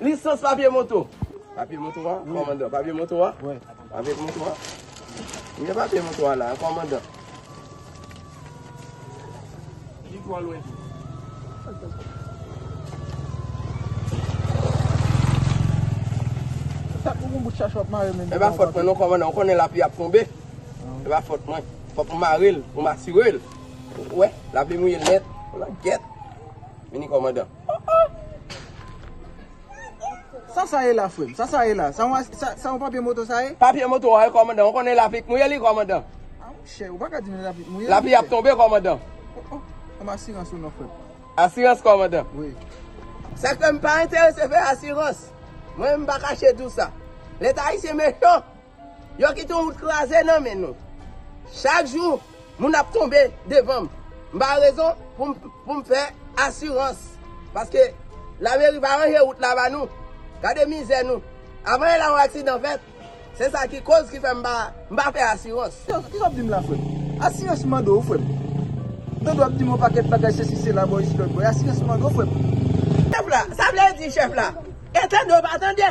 Lisans papye moto. Papye moto a, kòmandan. Papye moto a. Papye moto a. Ou gen papye moto a la, kòmandan. Li twò lwen tou. Sa pou moun bout chach wap mare men. E ba fòt mwen non kòmandan. Ou konnen lapli ap tonbe. E ba fòt mwen. Fòk m mare l pou m asire l. Ou wè, lapli mouye l nèt. Ou la gèt. Vini kòmandan. Oh oh! Sa sa ye la frem? Sa sa ye la? Sa yon papye moto sa ye? Papye moto a wi komandan, ou konnen lapli k mouye li komandan. A mon chè, ou pa ka di m lapli k mouye li. Lapli ap tonbe komandan. Oh oh! Ban m asirans ou non frem. Asirans komandan? Wi. Sa k fè m pa enterese fè asirans. Mwen menm m pa kache di w sa. Leta ayisyen mechan! Yo kite yon wout kraze nan men nou. Chak jou, moun ap tonbe devan m. M pa gen rezon pou m fè asirans. Paske lameri pa ranje wout la ba nou. Gade mizè nou. Avan e la yon aksidan fèt. Se sa ki koz ki fè m pa fè asirans. Kisa w ap di m la frè m? Asirans m mande w frè m. Dodo ap di m yon pakèt bagay sesi sela bo isi lòt bo. Asirans m mande w frè m. Chèf la, sa vle di chèf la? E tande w pa tande?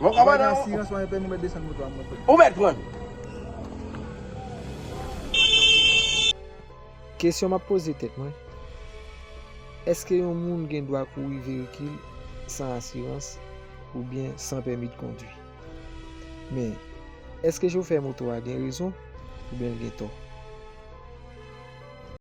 Mwen kaba nan yon. Mwen kaba nan yon. Mwen kaba nan yon. Ou mèt pran. Kesyon map poze tèt mwen. Eske yon moun gen dwa kouri veyikil san asirans oubyen san pèmi de kondwi? Men, eske chofè moto a gen rezon oubyen l gen tò?